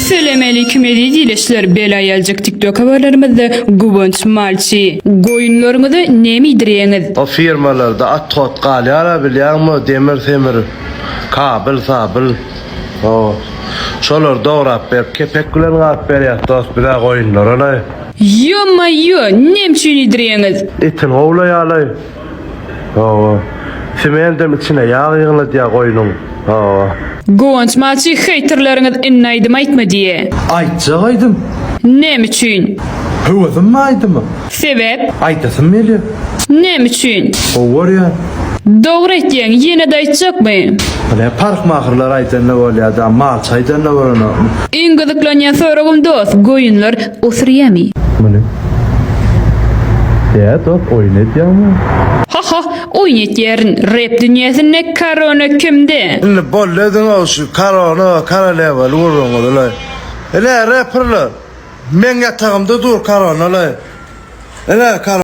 Selemeleykim eziz ilişler bel aýaljyk tiktok habarlarymyzda Guwanç malçy. Goýunlaryňyzy neme iýdirýäňiz? O firmalarda at hot galýara bilýäňmi demir semir kabyl sabyl o şolar dograp berip kepek bilen gap berýäs dost bizä goýunlaralaý. Ýo-maýo, nem üçin iýdirýäňiz? Etin gowlaýalaý. Hawa. Sementam içine ýag ýygnadýa goýnuň. Hawa. Guwanç malçy heýterleriňiz indi aýdym aýtma diýe. Aýtjak aýdym. Näme üçin? Höwesim bar aýdyma. Sebäp? Aýdasym gelýär. Näme üçin? Gowy görýän. Dogry aýtýaň ýenede aýtjakmy. Hine parhmahyrlar aýdanda bolýada malçy aýdanda bolanokmy. Iň gyzyklanýan soragym dos goýunlar osuryami. Muny. Däet ok oýun etýäňmi? Ha ha oýun etýärin. Rep dünýäsinde korona kimde? Indi boldy öziňow şu korona korolewany gurduňyz ulaý. Ine reperler meň ýatagymda dur korona ulaý. Ine korona.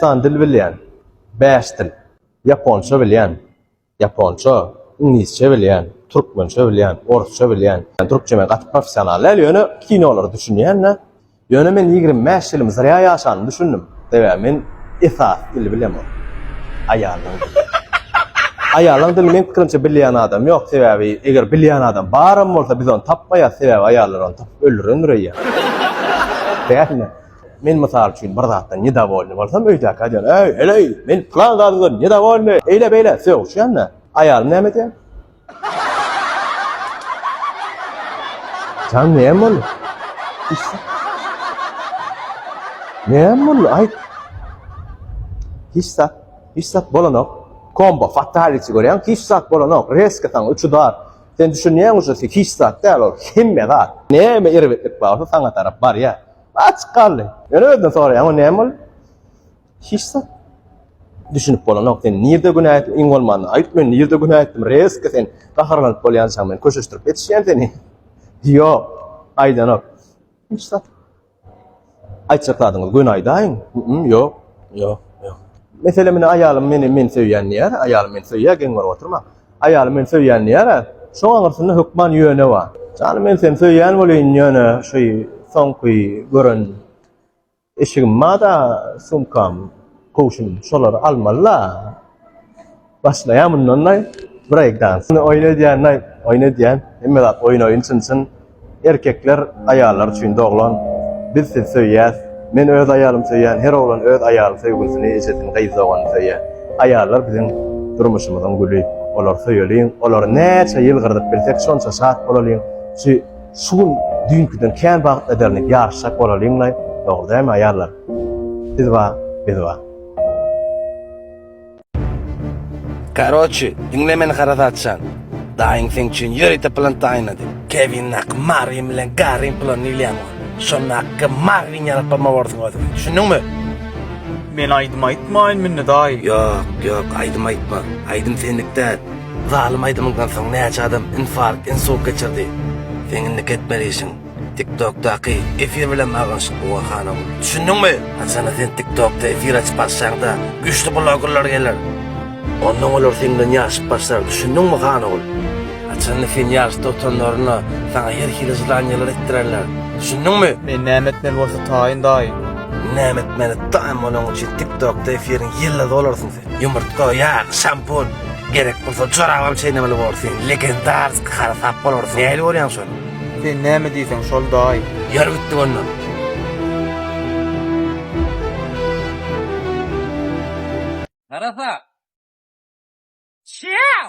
San dil bilýän. Bäş dil. Ýaponça bilýän. Ýaponça, iňlisçe bilýän, türkmençe bilýän, orsça bilýän. Türkçe men gaty professional däl, ýöne kinolara düşünýän-de. Ýöne men ýigrimi bäş ýylymy zrýa ýaşandym, düşündim. Sebäbi men esasy dili bilemok. Aýallaň dili. Aýallaň dilini meň pikirimçe bilýän adam ýok, sebäbi eger bilýän adam baram bolsa biz ony tapmaýas, sebäbi aýallar ony tapyp öldürendir öýýän. Dälmi? Men mysal üçin bir zatdan nedowolny bolsam, öýdäkä diýen, Äý, heleý, men pylan zadyňdan nedowolny, eýle-beýle, sögüşýän-dä. Aýalym näme diýer? Jan, näme boldy? Näme boldy, aýt? Hiç zat, hiç zat bolanok. Kombo, fatality görýäň, hiç zat bolanok. Reska saňa üç udar. Sen düşünýäňmi şu hiç zat däl ol, hemme zat. Näme erbetlik barsa saňa tarap barýar. Açyk galdy. Ýöne özden soraýan, o näme bol? Hiç zat. Düşünip bolanok sen. Nirde günä etdim? Iň bolmanda aýt men nirde günä etdim? Reske sen gaharlanyp bolýançaň men köşeşdirip etişýän seni. Ýok. Aýdanok. Hiç zat. Aýtjak zadyňyz göni aýdaýyň. Ýok. Ýok. Ýok. Mesele meni aýalym meni men söýýän diýýär. Aýalym meni söýýär, geň bolup oturma. Aýaly meni söýýän diýýär-ä. Şoň aňyrsynda hökman ýöne bar. Janym men seni söýýän welin ýöne şu soňky gören eşigim bada sumkam kowşum şolary almalyda başlaýan mundan daý break dance. Oýun edýän daý oýun edýän hemme zat oýun oýun çyn çyn. Erkekler aýallar üçin doglan biz sizi söýýäs men öz aýalym söýýän her oglan öz aýaly söýgülisini ejesini gyz doganyny söýýär aýallar biziň durmuşymyzyň güli olary söýeliň olary näçe ýyl gyrdyp bilsek şonça şat bolalyň şu şu gün düýnküden kän bagt ederini ýaryşjak bolalyňlaý dogry dämi aýallar siz bar biz bar. Karoçi, diňle meni harasatçan. Daýyň seň üçin ýörite plan taýynlady. Kewin haky Marwin bilen Garriň planyny bilýäň ol. Şonda haky Marwin ýalyp bolma borsuň özüňe. Düşündiňmi? Men aýdym aýtmaýyn münni daýy. Ýok, ýok, aýdym aýtma. Aýdym senlik däl. Zalym aýdymyňdan soň näçe adam infarkt, insult geçirdi. Seň indiki etmeli işiň. Tiktokdaky efir bilen baglanyşykly bol hanum. Düşündiňmi? Haçanda sen tiktokda efir açyp başlaňda güçli blogerler geler. Ondan olar senden ýaşyp başlar düşündiňmi hanogul? Haçanda sen ýaşda otanlaryna saňa her hili jylanyýalar etdirerler. Düşündiňmi? Men näme etmeli bolsa taýyn daýy? Näme etmeli taýyn bolaň üçin tiktokda efiriň ýyldyzy bolarsyň sen. Ýumurtga, ýag, şampun, gerek bolsa jorabam çeýnemeli bolarsyň, legendarsk harsap bolarsyň. Nähili görýäň şony? Sen näme diýseň şol daýy. Ýör gitdik onda. Harasap! Çýau!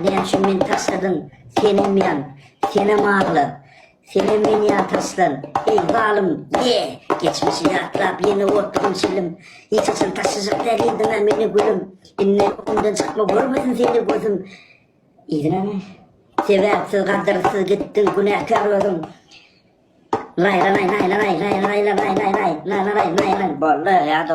Näme üçin meni taşladyň, senem ýan, senem agla, senem meni ýan taşlan, eý, zalym, ýe! Geçmişi ýatlap, ýene otdugym çilim, Hiç haçan taşlajak däl indem-ä meni gülüm, Indem öňümden çykma, görmesin seni gözüm, Yzyna sebäpsiz, gadyrsyz gitdiň, günäkär özüň. Laýlanaý, laýlanaý, laýlanaýlanaýlanaýlanaýlanaýlaýlan, boldy, ýa-da.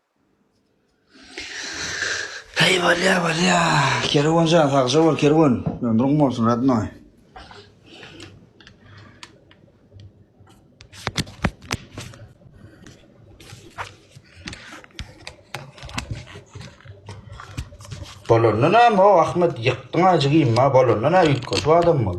Heý bolýa bolýa Kerwen jan sagja bol Kerwen ömrüň bolsun radnoý. Bolanda näme o Ahmet ýykdyň ajy gymma bolanda näme ýykgyşyp adam bol.